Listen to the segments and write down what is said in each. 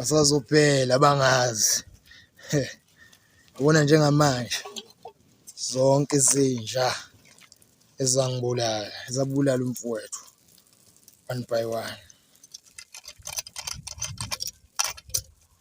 basazophela bangazi ubona njengamanje zonke izinja ezangibulala ezabulala umfowethu one by one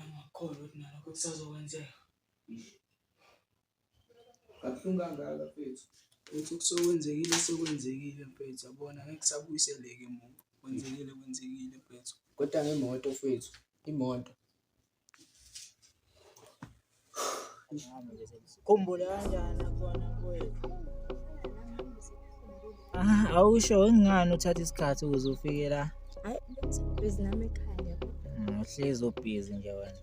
Amakholo ukuthi nalokho kusazokwenzeka. Kabuhlungu kangaka mfethu. Uthi kusokwenzekile sekwenzekile mfethu yabona ngeke kusabuyiseleke muntu. Kwenzekile kwenzekile mfethu. Kodwa ngemoto mfethu, imoto. Khumbula kanjani akhona mfowethu? Ah, awusho ngingani uthatha isikhathi ukuze ufike la? Hayi, busy nami ekhaya. Mm, Uhlezi ubhizi nje wena.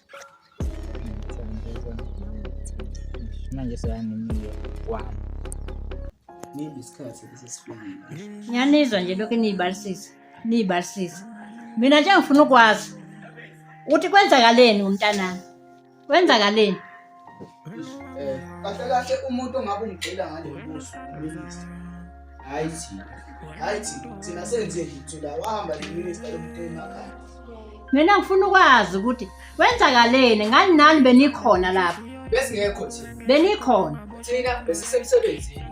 manje seyanimiye kwami nini isikhathi esesifikile ngiyanizwa nje lokhu niyibalisisa niyibalisisa mina nje ngifuna ukwazi ukuthi kwenzakaleni umntanami kwenzakaleni Eh, kahle kahle umuntu ongabe umgxila ngale mbuzo uminister hayi thina hayi thina thina senze lithu la wahamba neminister lomuntu emakhaya mina ngifuna ukwazi ukuthi kwenzakaleni ngani nani benikhona lapha besingekho thina benikhona thina besisemsebenzini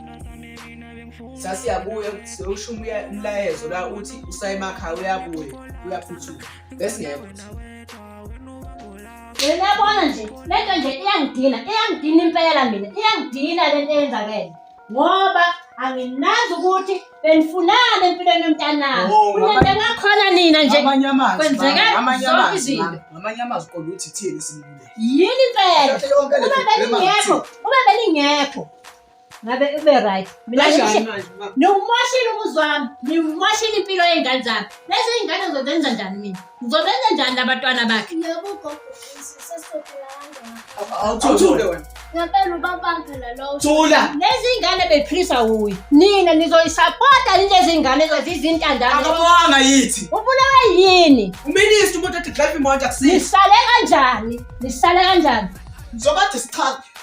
sasiyabuya sewusho umlayezo la uthi usayemakhaya uyabuya uyaphuthuma besingekho thina Uyabona nje lento nje iyangidina, iyangidina impela mina, iyangidina lento eyenzakele. Ngoba anginazi ukuthi benifunani empilweni yomntanami. Oh, Kunento engakhona nina nje. Amanye amazwi. Kwenzeka mama, amanye zonke amazwi, izinto. mama, Ngamanye amazwi kodwa uthi thini simluleke. Yini impela? Yonke le Uma problem belingekho, uma belingekho. ngabe ube right mina niwumoshile umuzi wami niwumoshile impilo yey'ngane zami lezi iy'ngane ngizozenza njani mina ngizobenza njani labantwana bakhe thula lezi iy'ngane bephilisa wuye nina nizoyisapota yini lezi iy'ngane zothi izintandanaakabonga yithi ubulawe yini uministi umuntu ethi drive imoto akusini nisale kanjani nisale kanjani ngizobathi sichaze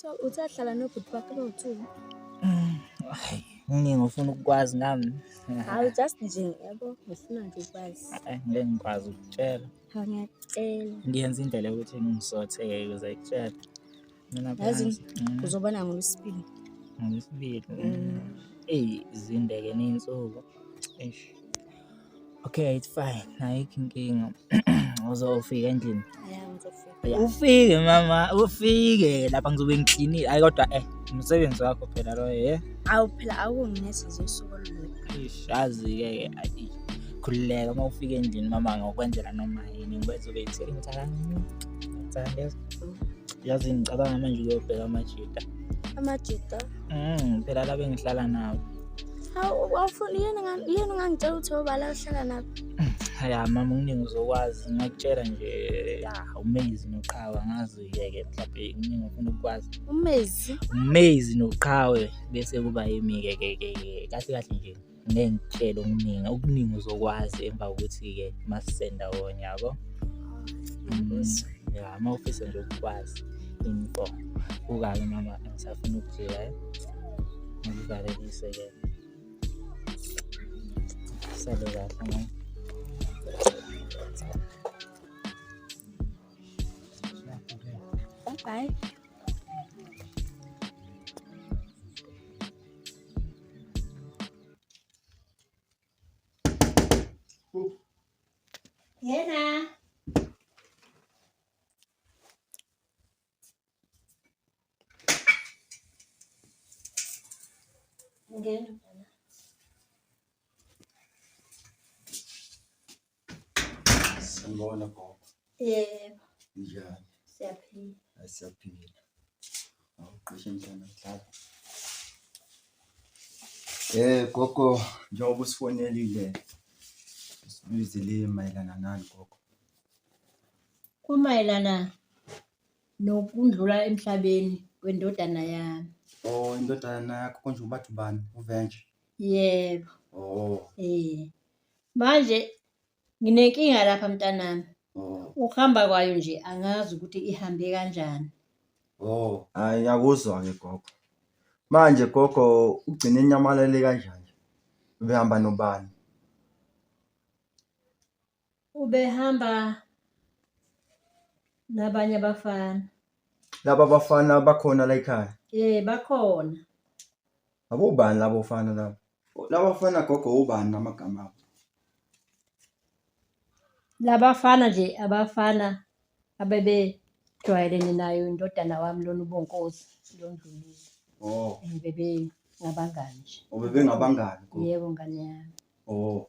So uthe ahlala nobhuti bakhe bowu-two. Mm, Hayi, kuningi ofuna ukukwazi ngami. Hawu just nje yabo ngifuna nje ukwazi. Ay, Ngeke ngikwazi ukutshela. Hawu ngiyacela. Ngiyenza indlela yokuthi ngisothe-ke ukuze ngikutshele. Mina Yazi phansi. Mm, uzobona ngolwesibili. ngolwesibili. Mm. Eyi, zinde-ke ney'nsuku. Eish. Okay, it's fine. Ayikho inkinga. Uzofika endlini. Ufike mama, ufike lapha ngizobe ngicleanile. Hayi kodwa eh umsebenzi wakho phela lo eh. Awu phela awunginesi zosuku olulodwa. Ish, azi ke ke ayi. Khululeka uma ufika endlini mama ngokwenzela noma yini ngizobe ngithele ngithala. Ngithanda. Yazi ngicabanga manje ukuyobheka amajita. Amajita? Mm, phela la bengihlala nawo. awufuni yini ungangitshela ukuthi obala uhlala nabo ya mama kuningi uzokwazi ngakutshela nje ya umezi noqhawe angazi uyeke mhlawumbe kuningi ufuna ukukwazi umezi umezi noqhawe bese kuba yimi-ke ke ke kahle kahle nje ngeke ngitshele okuningi okuningi uzokwazi emva kokuthi-ke masisenda wona yabo mm, ya uma ufisa nje ukukwazi info ukake mama angisafuna ukujika eh? ngivalelise ke sale kahle ngoba Bye. Yena. Ngena. Sanibona gogo. Yebo. Njani? Siyaphila. Asiyaphila. Awuqishe mntana dlala. Eh gogo njengoba usifonelile sibizile mayelana nani gogo? Kumayelana nokundlula emhlabeni kwendodana yami Oh, indodana yakho konje ubathi ubani? Uventure. yebo Oh, eh manje nginenkinga lapha mntanami oh, ukuhamba kwayo nje angazi ukuthi ihambe kanjani oh. Hayi akuzwa-ke gogo. Manje gogo ugcine enyamalele kanjani? Ubehamba nobani? ubehamba nabanye abafana laba bafana bakhona la ekhaya eh bakhona abobani labo fana labo laba fana gogo ubani namagama abo labafana nje abafana abebejwayelene nayo indodana wami lona ubonkosi londlulile oh bebe ngabangani nje obebengabangani gogo yebo ngane yami oh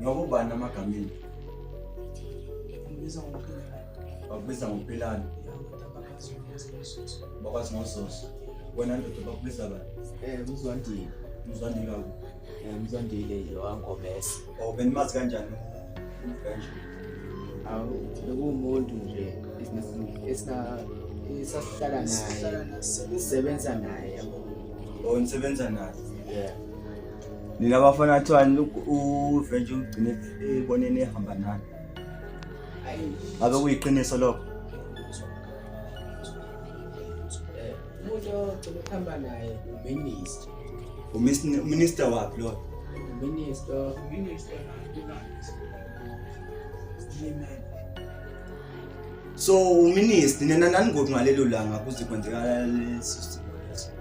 Noma ubani amagamini. Ngibiza ngoPilani. Bakubiza ngoPilani. Bakwazi ngososo. Wena ndoda bakubiza bani? Eh, Mzwandile. Mzwandile kaku. Eh, Mzwandile yowaNgomese. Oh, benimazi kanjani? Kanje. Awu, bekuwumuntu nje esina esasihlala naye. Sisebenza naye. Oh, nisebenza naye. Yeah. nina bafana kuthiwani uvenje ugcine eboneni ehamba nani ngabe kuyiqiniso lokho umuntu ogcina ukuhamba naye uminister uminister waphi loyo uminister uminister so uminister nina naningoti ngalelo langa kuze kwenzeka lesi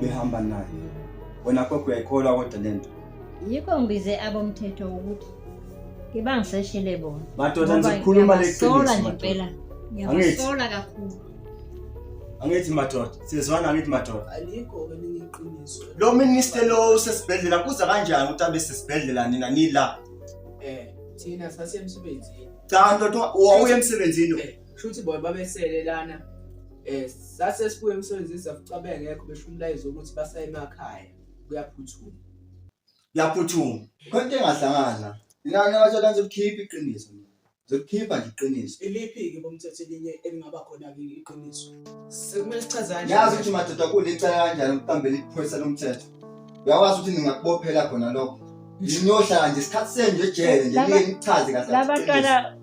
behamba naye wena gogo uyayikholwa kodwa le nto yikho ngibize abomthetho ukuthi ngibangiseshele bona madoda nje khuluma leqiniso ngempela ngiyabasola kakhulu angithi madoda sizwana angithi madoda alikho elinye iqiniso lo minister lo usesibhedlela kuza kanjani ukuthi abe sesibhedlela nina nila eh thina sasemsebenzini cha ndoda wawuye emsebenzini eh. Shuthi bona babesele lana eh sase sibuye emsebenzini safica bengekho besho umlayezo ukuthi basaye emakhaya kuyaphuthuma. Yaphuthuma. Khona into engahlangana. Ngani abathola nje ukukhipha iqiniso. Zokukhipha nje iqiniso. Iliphi ke bomthetho elinye elingaba khona ke iqiniso. Sekumele sichazane. Ngiyazi ukuthi madoda kulecala kanjani ukuqambela iphoyisa lomthetho. Uyakwazi ukuthi ningakubophela khona lokho. Ngiyohlala nje isikhathi senu nje ejele nje Laba- ngeke ngichaze kahle. Laba iqiniso. bantwana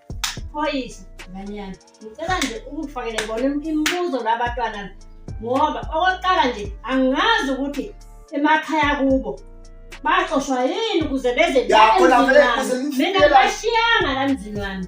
Phoyisa ngane yami, ngicela nje ukufakele bona imibuzo labatwana ngoba okokuqala nje angazi ukuthi emakhaya kubo baxoshwa yini ukuze beze mina bashiyanga la mzini wami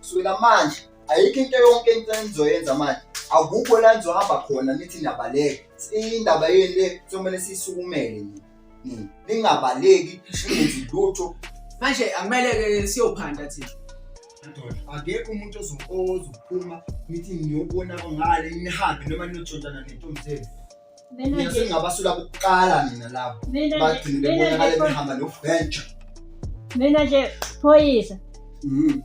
kusukela manje ayikho into yonke into enizoyenza manje akukho la nizohamba khona nithi niyabaleka indaba yeni le kuzomele siyisukumele nini ningabaleki ningenzi lutho manje akumele-ke siyophanda thina akekho umuntu ozophuma nithi niyobona ngale nihambe noma ninotshontshana nentombi zenu mina sengingabasula kuqala mina labo bagcine bebonakale behamba noventure mina nje phoyisa mm.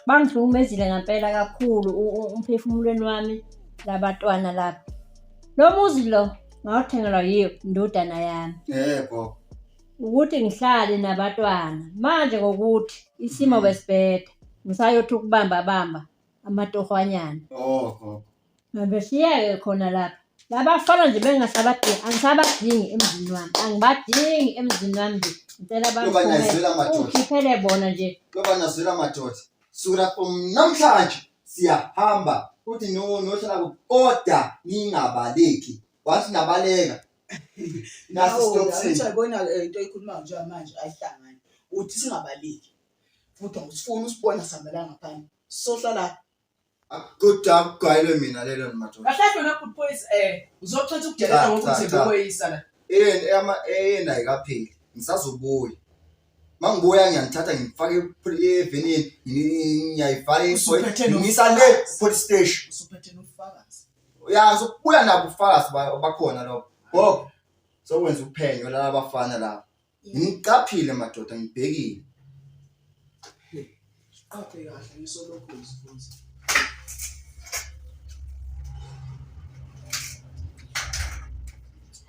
bangihlukumezile ngampela kakhulu umphefumulweni wami labatwana laba lo muzi lo ngawuthengelwa yiyo indodana yami yebo ukuthi ngihlale nabatwana manje ngokuthi isimo mm. besibheda ngisayothuka ukubamba bamba amatohwanyana oh, oh. Mabeshiyeke khona lapha. Labafana nje bengasabadingi, angisabadingi emzini wami. Angibadingi emzini wami nje. Ngicela Yoba niyazwela baphume. amadoda. Ukhiphele bona nje. Yoba nazwela madoda. Sukela from namhlanje siyahamba. Uthi no nohlala ku order ningabaleki. Wathi nabaleka. Nasi stop sin. Uyabona ke eh, into oyikhulumayo njengoba manje ayihlangani. Uthi singabaleki. Futhi awusifuni usibona sihambela ngaphandle. Sohlala Kodwa akugwayelwe mina lelo madoda. Kahle kahle wena good boys eh uzochetha ukudelela ngoba Cha, cha, uthembe cha. ukweyisa la. Eyeni eyama eyena ayikapheli. Ngisazobuya. Mangibuya ngiyanithatha ngifake evenini ngiyayifaka isoyi. Usuphethe no- Ngisa le police station. Usuphethe nofakazi. Ya sokubuya nabo ufakazi ba- bakhona lapho. Gogo sokwenza uphenyo laba bafana laba. Ngiqaphile madoda ngibhekile. Qaphe kahle ngisolokhu ngizibuza.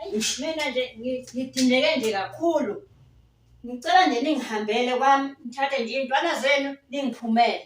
Eish mina nje ngi- ngidineke nje kakhulu. Ngicela nje ningihambele kwami nithathe nje iy'ntwana zenu ningiphumele.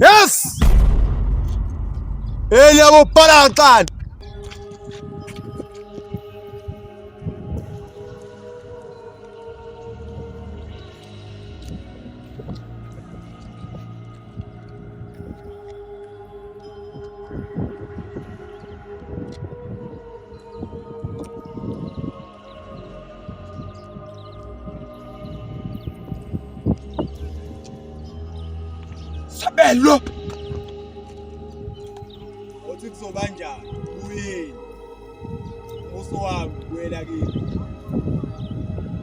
Yes! Eli abopala kaxana. Sabelo. Othi kuzoba njani? Uyini? Muso wami kuyela kimi.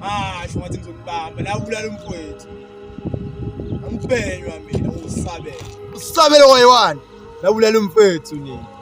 Asho ngathi ngizokubamba la ubulala umfowethu. Angiphenywa mina usabela. Usabela wayewani? La ubulala umfowethu nini?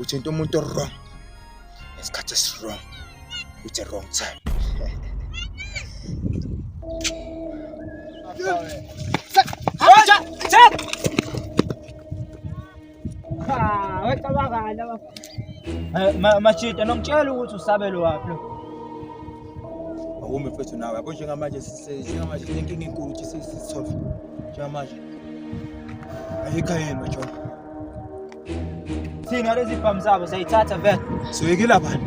uthinta umuntu owrong ngesikhathi esiwrong with the wrong time machita nongitshela ukuthi usabele waphi lo awumi mfethu nawe yabo njengamanje njengamanje sinenkinga enkulu ukuthi sisolve njengamanje ayikho yini majola Thina lezi bhamu zabo sayithatha vele. Soyekile abantu.